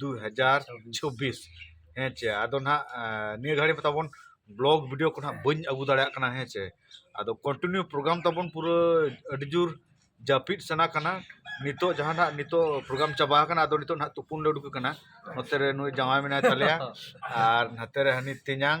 ᱫᱩ ᱦᱟᱡᱟᱨ ᱪᱷᱚᱵᱵᱤᱥ ᱦᱮᱸ ᱪᱮ ᱟᱫᱚ ᱱᱟᱦᱟᱜ ᱱᱤᱭᱟᱹ ᱜᱷᱟᱹᱲᱤᱡ ᱢᱟ ᱛᱟᱵᱚᱱ ᱵᱞᱚᱜᱽ ᱵᱷᱤᱰᱤᱭᱳ ᱠᱚ ᱱᱟᱦᱟᱜ ᱵᱟᱹᱧ ᱟᱹᱜᱩ ᱫᱟᱲᱮᱭᱟᱜ ᱠᱟᱱᱟ ᱦᱮᱸ ᱪᱮ ᱟᱫᱚ ᱠᱚᱱᱴᱤᱱᱤᱭᱩ ᱯᱨᱳᱜᱨᱟᱢ ᱛᱟᱵᱚᱱ ᱯᱩᱨᱟᱹ ᱟᱹᱰᱤ ᱡᱳᱨ ᱡᱟᱹᱯᱤᱫ ᱥᱟᱱᱟ ᱠᱟᱱᱟ ᱱᱤᱛᱚᱜ ᱡᱟᱦᱟᱸ ᱱᱟᱦᱟᱜ ᱱᱤᱛᱚᱜ ᱯᱨᱳᱜᱨᱟᱢ ᱪᱟᱵᱟ ᱟᱠᱟᱱᱟ ᱟᱫᱚ ᱱᱤᱛᱚᱜ ᱱᱟᱦᱟᱜ ᱛᱩᱯᱩᱱ ᱞᱮ ᱩᱰᱩᱠ ᱟᱠᱟᱱᱟ ᱱᱚᱛᱮ ᱨᱮ ᱱᱩᱭ ᱡᱟᱶᱟᱭ ᱢᱮᱱᱟᱭ ᱛᱟᱞᱮᱭᱟ ᱟᱨ ᱱᱟᱛᱮ ᱨᱮ ᱦᱟᱹᱱᱤ ᱛᱮᱧᱟᱝ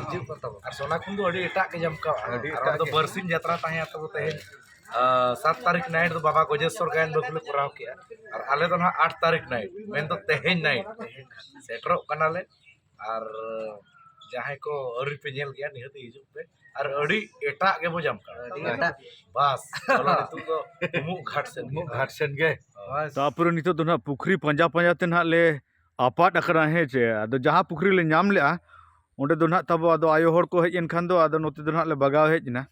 ᱦᱤᱡᱩᱜ ᱠᱟᱱ ᱛᱟᱵᱚᱱᱟ ᱟᱨ ᱥᱚᱱᱟ ᱠᱷᱚᱱ ᱫᱚ ᱟᱹᱰᱤ ᱮᱴᱟᱜ ᱜᱮ ᱡᱚᱢᱠᱟᱣᱟ ᱟᱹᱰᱤ ᱮᱴᱟᱜ ᱫᱚ ᱵᱟᱨᱥᱤᱧ ᱡᱟᱛᱨᱟ ᱛᱟᱦᱮᱸᱭᱟ ᱛᱟᱵᱚ ᱛᱮᱦᱮᱧ ᱥᱟᱛ ᱛᱟᱹᱨᱤᱠᱷ ᱱᱟᱭᱤᱴ ᱫᱚ ᱵᱟᱵᱟ ᱜᱚᱡᱮᱥᱥᱚᱨ ᱜᱟᱭᱟᱱ ᱵᱟᱹᱵᱩ ᱞᱮ ᱠᱚᱨᱟᱣ ᱠᱮᱜᱼᱟ ᱟᱨ ᱟᱞᱮ ᱫᱚ ᱱᱟᱦᱟᱜ ᱟᱴ ᱛᱟᱹᱨᱤᱠᱷ ᱱᱟᱭᱤᱴ ᱢᱮᱱᱫᱚ ᱛᱮᱦᱮᱧ ᱱᱟᱭᱤᱴ ᱥᱮᱴᱮᱨᱚᱜ ᱠᱟᱱᱟᱞᱮ ᱟᱨ ᱡᱟᱦᱟᱸᱭ ᱠᱚ ᱟᱹᱣᱨᱤ ᱯᱮ ᱧᱮᱞ ᱜᱮᱭᱟ ᱱᱤᱦᱟᱹᱛ ᱦᱤᱡᱩᱜ ᱯᱮ ᱟᱨ ᱟᱹᱰᱤ ᱮᱴᱟᱜ ᱜᱮᱵᱚ ᱡᱟᱢ ᱠᱟᱱᱟ ᱵᱟᱥ ᱱᱤᱛᱚᱜ ᱫᱚ ᱩᱢᱩᱜ ᱜᱷᱟᱴ ᱥᱮᱱ ᱩᱢᱩᱜ ᱜᱷᱟᱴ ᱥᱮᱱ ᱜᱮ ᱛᱟᱯᱚᱨᱮ ᱱᱤᱛᱚᱜ ᱫᱚ ᱱᱟᱦᱟᱜ ᱯᱩᱠᱷᱨᱤ ᱯᱟᱸᱡᱟ ᱯᱟᱸᱡᱟ ᱛᱮ ᱱᱟᱦᱟᱜ ᱞᱮ ᱟᱯᱟᱫ ᱟᱠᱟᱱᱟ ᱦᱮᱸ ᱪᱮ ᱟᱫᱚ ᱡᱟᱦᱟᱸ ᱯᱩᱠᱷᱨᱤ ᱞᱮ ᱧᱟᱢ ᱞᱮᱫᱼᱟ ᱚᱸᱰᱮ ᱫᱚ ᱱᱟᱦᱟᱜ ᱛᱟᱵᱚ ᱟᱫᱚ ᱟᱭᱳ ᱦᱚᱲ ᱠᱚ ᱦᱮᱡ ᱮᱱ ᱠᱷᱟᱱ ᱫᱚ ᱟᱫᱚ ᱱᱚᱛᱮ ᱫᱚ ᱱᱟᱦᱟᱜ ᱞᱮ ᱵᱟᱜᱟᱣ ᱦᱮᱡ ᱮᱱᱟ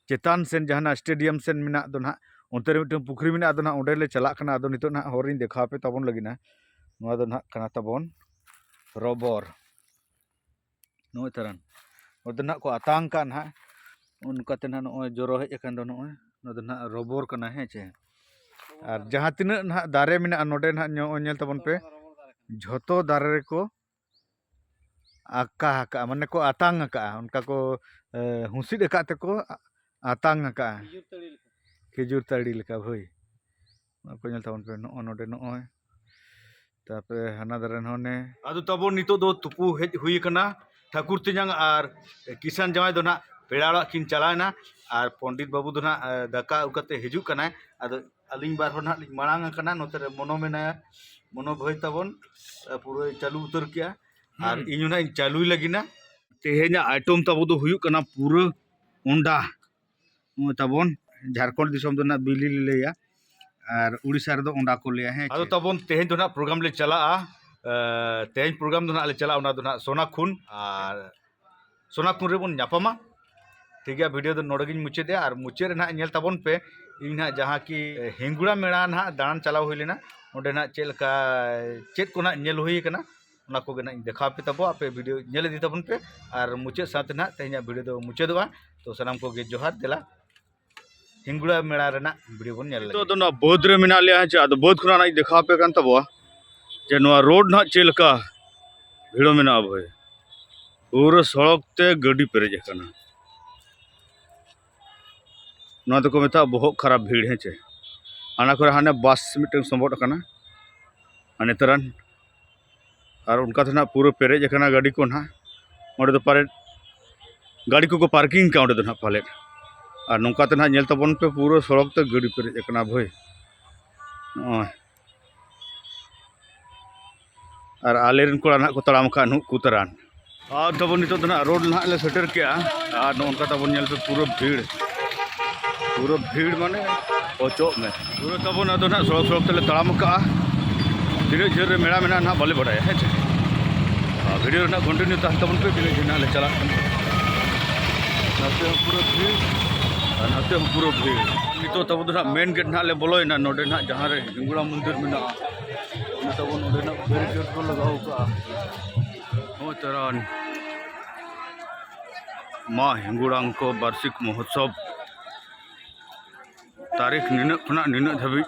ᱪᱮᱛᱟᱱ ᱥᱮᱫ ᱡᱟᱦᱟᱱᱟᱜ ᱥᱴᱮᱰᱤᱭᱟᱢ ᱥᱮᱫ ᱢᱮᱱᱟᱜ ᱫᱚ ᱱᱟᱦᱟᱜ ᱚᱱᱛᱮ ᱨᱮ ᱢᱤᱫᱴᱟᱹᱝ ᱯᱩᱠᱷᱨᱤ ᱢᱮᱱᱟᱜᱼᱟ ᱟᱫᱚ ᱱᱟᱦᱟᱜ ᱚᱸᱰᱮ ᱞᱮ ᱪᱟᱞᱟᱜ ᱠᱟᱱᱟ ᱟᱫᱚ ᱱᱤᱛᱚᱜ ᱱᱟᱦᱟᱜ ᱦᱚᱨ ᱤᱧ ᱫᱮᱠᱷᱟᱣ ᱟᱯᱮ ᱛᱟᱵᱚᱱ ᱞᱟᱹᱜᱤᱫ ᱱᱟᱦᱟᱜ ᱱᱚᱣᱟ ᱫᱚ ᱱᱟᱦᱟᱜ ᱠᱟᱱᱟ ᱛᱟᱵᱚᱱ ᱨᱚᱵᱚᱨ ᱱᱚᱜᱼᱚᱭ ᱛᱟᱨᱟᱱ ᱱᱚᱛᱮ ᱱᱟᱜ ᱠᱚ ᱟᱛᱟᱝ ᱠᱟᱜᱼᱟ ᱱᱟᱜ ᱚᱱᱠᱟᱛᱮ ᱱᱟᱜ ᱱᱚᱜᱼᱚᱭ ᱡᱚᱨᱚ ᱦᱮᱡ ᱟᱠᱟᱱ ᱫᱚ ᱱᱚᱜᱼᱚᱭ ᱱᱚᱣᱟ ᱫᱚ ᱱᱟᱜ ᱨᱚᱵᱚᱨ ᱠᱟᱱᱟ ᱦᱮᱸ ᱪᱮ ᱟᱨ ᱡᱟᱦᱟᱸ ᱛᱤᱱᱟᱹᱜ ᱱᱟᱜ ᱫᱟᱨᱮ ᱢᱮᱱᱟᱜᱼᱟ ᱱᱚᱰᱮ ᱱᱟᱜ ᱱᱚᱜᱼᱚᱭ ᱧᱮᱞ ᱛᱟᱵᱚᱱ ᱯᱮ ᱡᱷᱚᱛᱚ ᱫᱟᱨᱮ ᱨᱮᱠᱚ ᱟᱠᱟ ᱟᱠᱟᱜᱼᱟ ᱢᱟᱱᱮ ᱠᱚ ᱟᱛᱟᱝ ᱟᱠᱟᱜᱼᱟ ᱚᱱᱠᱟ ᱠᱚ ᱦᱩᱸᱥᱤᱫ ᱟᱠᱟᱫ ᱛᱮᱠᱚ ᱟᱛᱟᱝ ᱟᱠᱟᱜᱼᱟ ᱠᱷᱤᱡᱩᱨ ᱛᱟᱹᱲᱤ ᱞᱮᱠᱟ ᱦᱳᱭ ᱱᱚᱣᱟ ᱠᱚ ᱧᱮᱞ ᱛᱟᱵᱚᱱ ᱯᱮ ᱱᱚᱜᱼᱚ ᱱᱚᱰᱮ ᱱᱚᱜᱼᱚᱭ ᱛᱟᱯᱚᱨᱮ ᱦᱟᱱᱟ ᱫᱟᱨᱮ ᱱᱚᱜᱼᱚ ᱱᱮ ᱟᱫᱚ ᱛᱟᱵᱚᱱ ᱱᱤᱛᱚᱜ ᱫᱚ ᱛᱩᱯᱩ ᱦᱮᱡ ᱦᱩᱭ ᱟᱠᱟᱱᱟ ᱴᱷᱟᱹᱠᱩᱨ ᱛᱮᱧᱟᱝ ᱟᱨ ᱠᱤᱥᱟᱱ ᱡᱟᱶᱟᱭ ᱫᱚ ᱱᱟᱜ ᱯᱮᱲᱟ ᱚᱲᱟᱜ ᱠᱤᱱ ᱪᱟᱞᱟᱣᱮᱱᱟ ᱟᱨ ᱯᱚᱱᱰᱤᱛ ᱵᱟᱹᱵᱩ ᱫᱚ ᱱᱟᱜ ᱫᱟᱠᱟ ᱟᱹᱜᱩ ᱠᱟᱛᱮ ᱦᱤᱡᱩᱜ ᱠᱟᱱᱟᱭ ᱟᱫᱚ ᱟᱹᱞᱤᱧ ᱵᱟᱨ ᱦᱚᱲ ᱱᱟᱜ ᱞᱤᱧ ᱢᱟᱲᱟᱝ ᱟᱠᱟᱱᱟ ᱱᱚᱛᱮ ᱨᱮ ᱢᱚᱱᱚ ᱢᱮᱱᱟᱭᱟ ᱢᱚᱱᱚ ᱵᱷᱟᱹᱭ ᱛᱟᱵᱚᱱ ᱯᱩᱨᱟᱹᱭ ᱪᱟᱹᱞᱩ ᱩᱛᱟᱹᱨ ᱠᱮᱜᱼᱟ ᱟᱨ ᱤᱧ ᱦᱚᱸ ᱱᱟᱜ ᱤᱧ ᱪᱟᱹᱞᱩᱭ ᱞᱟᱹᱜᱤᱫ ᱛᱮᱦᱮᱧᱟᱜ ᱟᱭᱴᱚᱢ ᱛᱟᱵᱚ ᱫᱚ ᱦᱩᱭᱩᱜ ᱠᱟᱱᱟ ᱯᱩᱨᱟᱹ ᱚᱱᱰᱟ ᱛᱟᱵᱚᱱ ᱡᱷᱟᱲᱠᱷᱚᱸᱰ ᱫᱤᱥᱚᱢ ᱫᱚ ᱱᱟᱦᱟᱜ ᱵᱤᱞᱤ ᱞᱮ ᱞᱟᱹᱭᱟ ᱟᱨ ᱩᱲᱤᱥᱥᱟ ᱨᱮᱫᱚ ᱚᱸᱰᱟ ᱠᱚ ᱞᱟᱹᱭᱟ ᱦᱮᱸ ᱟᱫᱚ ᱛᱟᱵᱚᱱ ᱛᱮᱦᱮᱧ ᱫᱚ ᱱᱟᱦᱟᱜ ᱯᱨᱳᱜᱨᱟᱢ ᱞᱮ ᱪᱟᱞᱟᱜᱼᱟ ᱛᱮᱦᱮᱧ ᱯᱨᱳᱜᱨᱟᱢ ᱫᱚ ᱱᱟᱦᱟᱜ ᱞᱮ ᱪᱟᱞᱟᱜᱼᱟ ᱚᱱᱟ ᱫᱚ ᱱᱟᱦᱟᱜ ᱥᱳᱱᱟᱠᱷᱩᱱ ᱟᱨ ᱥᱳᱱᱟᱠᱷᱩᱱ ᱨᱮᱵᱚᱱ ᱧᱟᱯᱟᱢᱟ ᱴᱷᱤᱠ ᱜᱮᱭᱟ ᱵᱷᱤᱰᱤᱭᱳ ᱫᱚ ᱱᱚᱰᱮ ᱜᱤᱧ ᱢᱩᱪᱟᱹᱫᱮᱜᱼᱟ ᱟᱨ ᱢᱩᱪᱟᱹᱫ ᱨᱮ ᱱᱟᱦᱟᱜ ᱧᱮᱞ ᱛᱟᱵᱚᱱ ᱯᱮ ᱤᱧ ᱱᱟᱦᱟᱜ ᱡᱟᱦᱟᱸ ᱠᱤ ᱦᱤᱝᱜᱩᱲᱟ ᱢᱮᱞᱟ ᱱᱟᱦᱟᱜ ᱫᱟᱬᱟᱱ ᱪᱟᱞᱟᱣ ᱦᱩᱭ ᱞᱮᱱᱟ ᱚᱸᱰᱮ ᱱᱟᱦᱟᱜ ᱪᱮᱫ ᱞᱮᱠᱟ ᱪᱮᱫ ᱠᱚ ᱱᱟᱦᱟᱜ ᱧᱮᱞ ᱦᱩᱭ ᱠᱟᱱᱟ ᱚᱱᱟ ᱠᱚᱜᱮ ᱱᱟᱦᱟᱜ ᱤᱧ ᱫᱮᱠᱷᱟᱣ ᱯᱮ ᱛᱟᱵᱚ ᱟᱯᱮ ᱵᱷᱤᱰᱤᱭᱳ ᱧᱮᱞ ᱤᱫᱤ ᱛᱟᱵᱚᱱ ᱯᱮ ᱟᱨ ᱢᱩᱪᱟᱹᱫ ᱥᱟᱶᱛᱮ ᱱᱟᱦᱟᱜ ᱛᱮᱦᱮᱧᱟᱜ ᱵᱷᱤᱰᱤᱭᱳ ᱫᱚ ᱢᱩᱪᱟᱹᱫᱚᱜᱼᱟ ᱛᱚ ᱥᱟᱱᱟᱢ ᱠᱚᱜᱮ ᱡᱚᱦᱟᱨ ᱫᱮᱞᱟ ᱦᱤᱝᱜᱩᱲᱟ ᱢᱮᱲᱟ ᱨᱮᱱᱟᱜ ᱵᱷᱤᱰᱤᱭᱳ ᱵᱚᱱ ᱧᱮᱞ ᱞᱟᱹᱜᱤᱫ ᱫᱚ ᱱᱚᱣᱟ ᱵᱟᱹᱫᱽ ᱨᱮ ᱢᱮᱱᱟᱜ ᱞᱮᱭᱟ ᱦᱮᱸ ᱟᱫᱚ ᱵᱟᱹᱫᱽ ᱠᱷᱚᱱᱟᱜ ᱤᱧ ᱫᱮᱠᱷᱟᱣ ᱯᱮ ᱠᱟᱱ ᱛᱟᱵᱚᱣᱟ ᱡᱮ ᱱᱚᱣᱟ ᱨᱳᱰ ᱱᱟᱦᱟᱜ ᱪᱮᱫ ᱞᱮᱠᱟ ᱵᱷᱤᱲᱚ ᱢᱮᱱᱟᱜᱼᱟ ᱵᱷᱟᱹᱭ ᱯᱩᱨᱟᱹ ᱥᱚᱲᱚᱠ ᱛᱮ ᱜᱟᱹᱰᱤ ᱯᱮᱨᱮᱡ ᱟᱠᱟᱱᱟ ᱱᱚᱣᱟ ᱫᱚᱠᱚ ᱢᱮᱛᱟᱜᱼᱟ ᱵᱚᱦᱚᱜ ᱠᱷᱟᱨᱟᱯ ᱵᱷᱤᱲ ᱦᱮᱸ ᱪᱮ ᱚᱱᱟ ᱠᱚᱨᱮ ᱦᱟᱱᱮ ᱵᱟᱥ ᱢᱤᱫᱴᱟᱝ ᱥᱚᱵᱚᱫ ᱟᱠᱟᱱᱟ ᱟᱨ ᱱᱮᱛᱟᱨᱟᱱ ᱟᱨ ᱚᱱᱠᱟ ᱛᱮ ᱱᱟᱦᱟᱜ ᱯᱩᱨᱟᱹ ᱯᱮᱨᱮᱡ ᱟᱠᱟᱱᱟ ᱜᱟᱹᱰᱤ ᱠᱚ ᱱᱟᱦᱟᱜ ᱚᱸᱰᱮ ᱫᱚ ᱯᱟᱞᱮᱫ ᱜᱟᱹᱰᱤ ᱠᱚᱠᱚ ᱯᱟᱨᱠᱤᱝ ᱠᱟᱜᱼᱟ ᱚᱸᱰᱮ ᱫᱚ ᱱᱟᱦᱟᱜ ᱯᱟᱞᱮᱫ ᱟᱨ ᱱᱚᱝᱠᱟ ᱛᱮ ᱱᱟᱦᱟᱜ ᱧᱮᱞ ᱛᱟᱵᱚᱱ ᱯᱮ ᱯᱩᱨᱟᱹ ᱥᱚᱲᱚᱠ ᱛᱮ ᱜᱟᱹᱰᱤ ᱯᱮᱨᱮᱡ ᱟᱠᱟᱱᱟ ᱵᱷᱟᱹᱭ ᱱᱚᱜᱼᱚᱭ ᱟᱨ ᱟᱞᱮᱨᱮᱱ ᱠᱚᱲᱟ ᱱᱟᱦᱟᱜ ᱠᱚ ᱛᱟᱲᱟᱢ ᱟᱠᱟᱫ ᱱᱩᱠᱩ ᱛᱟᱨᱟᱱ ᱟᱨ ᱛᱟᱵᱚᱱ ᱱᱤᱛᱚᱜ ᱫᱚ ᱱᱟᱦᱟᱜ ᱨᱳᱰ ᱱᱟᱦᱟᱜ ᱞᱮ ᱥᱮᱴᱮᱨ ᱠᱮᱜᱼᱟ ᱟᱨ ᱱᱚᱝᱠᱟ ᱛᱟᱵᱚᱱ ᱧᱮᱞ ᱯᱮ ᱯᱩᱨᱟᱹ ᱵᱷᱤᱲ ᱯᱩᱨᱟᱹ ᱵᱷᱤᱲ ᱢᱟᱱᱮ ᱚᱪᱚᱜ ᱢᱮ ᱯᱩᱨᱟᱹ ᱛᱟᱵᱚᱱ ᱟᱫᱚ ᱱᱟᱦᱟᱜ ᱥᱚᱲᱚᱠ ᱥᱚᱲᱚᱠ ᱛᱮᱞᱮ ᱛᱟᱲᱟᱢ ᱟᱠᱟᱫᱼᱟ ᱛᱤᱱᱟᱹᱜ ᱡᱷᱟᱹᱞ ᱨᱮ ᱢᱮᱲᱟ ᱢᱮᱱᱟᱜᱼᱟ ᱱᱟᱦᱟᱜ ᱵᱟᱞᱮ ᱵᱟᱰᱟᱭᱟ ᱦᱮᱸ ᱪᱮ ᱟᱨ ᱵᱷᱤᱰᱤᱭᱳ ᱨᱮᱱᱟᱜ ᱠᱚᱱᱴᱤᱱᱤᱭᱩ ᱛᱟᱦᱮᱱ ᱛᱟᱵᱚᱱ ᱯᱮ ᱛᱤᱱᱟᱹᱜ ᱡᱷᱟᱹᱞ ᱱᱟᱦᱟᱜ ᱞᱮ ᱪᱟᱞᱟᱜ ᱠᱟᱱᱟ ᱱᱟᱛᱮ ᱦᱚᱸ ᱯᱩᱨᱟᱹ ᱵᱷᱤᱲ ᱟᱨ ᱱᱟᱛᱮ ᱦᱚᱸ ᱯᱩᱨᱟᱹ ᱵᱷᱤᱲ ᱱᱤᱛᱚᱜ ᱛᱟᱵᱚ ᱫᱚ ᱱᱟᱦᱟᱜ ᱢᱮᱱ ᱜᱮᱴ ᱱᱟᱦᱟᱜ ᱞᱮ ᱵᱚᱞᱚᱭᱮᱱᱟ ᱱᱚᱰᱮ ᱱᱟᱦᱟᱜ ᱡᱟᱦᱟᱸ ᱨᱮ ᱦᱤᱝᱜᱩᱲᱟ ᱢᱚᱱᱫᱤᱨ ᱢᱮᱱᱟᱜᱼᱟ ᱚᱱᱟ ᱛᱟᱵᱚ ᱱᱚᱰᱮ ᱱᱟᱦᱟᱜ ᱵᱮᱨᱤᱠᱮᱰ ᱠᱚ ᱞᱟᱜᱟᱣ ᱠᱟᱜᱼᱟ ᱦᱳᱭ ᱛᱟᱨᱟᱱ ᱢᱟ ᱦᱤᱝᱜᱩᱲᱟᱝᱠᱚ ᱵᱟᱨᱥᱤᱠ ᱢᱚᱦᱳᱛᱥᱚᱵᱽ ᱛᱟᱹᱨᱤᱠᱷ ᱱᱤᱱᱟᱹᱜ ᱠᱷᱚᱱᱟᱜ ᱱᱤᱱᱟᱹᱜ ᱫᱷᱟᱹᱵᱤᱡ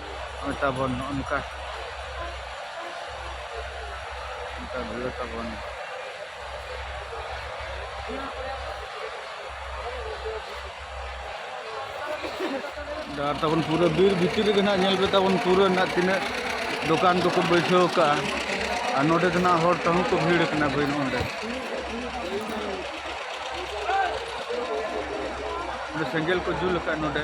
ᱱᱚᱜᱼᱚᱭ ᱛᱟᱵᱚᱱ ᱱᱚᱜᱼᱚ ᱱᱚᱝᱠᱟ ᱱᱚᱝᱠᱟ ᱵᱷᱤᱲ ᱛᱟᱵᱚᱱ ᱰᱟᱦᱟᱨ ᱛᱟᱵᱚᱱ ᱯᱩᱨᱟᱹ ᱵᱤᱨ ᱵᱷᱤᱛᱤᱨ ᱨᱮᱜᱮ ᱱᱟᱜ ᱧᱮᱞ ᱯᱮ ᱛᱟᱵᱚᱱ ᱯᱩᱨᱟᱹ ᱱᱟᱜ ᱛᱤᱱᱟᱹᱜ ᱫᱚᱠᱟᱱ ᱠᱚᱠᱚ ᱵᱟᱹᱭᱥᱟᱹᱣ ᱠᱟᱜᱼᱟ ᱟᱨ ᱱᱚᱰᱮ ᱫᱚ ᱱᱟᱜ ᱦᱚᱲ ᱛᱮᱦᱚᱸ ᱠᱚ ᱵᱷᱤᱲ ᱠᱟᱱᱟ ᱵᱟᱹᱭ ᱱᱚᱰᱮ ᱥᱮᱸᱜᱮᱞ ᱠᱚ ᱡᱩᱞ ᱟᱠᱟᱫ ᱱᱚᱰᱮ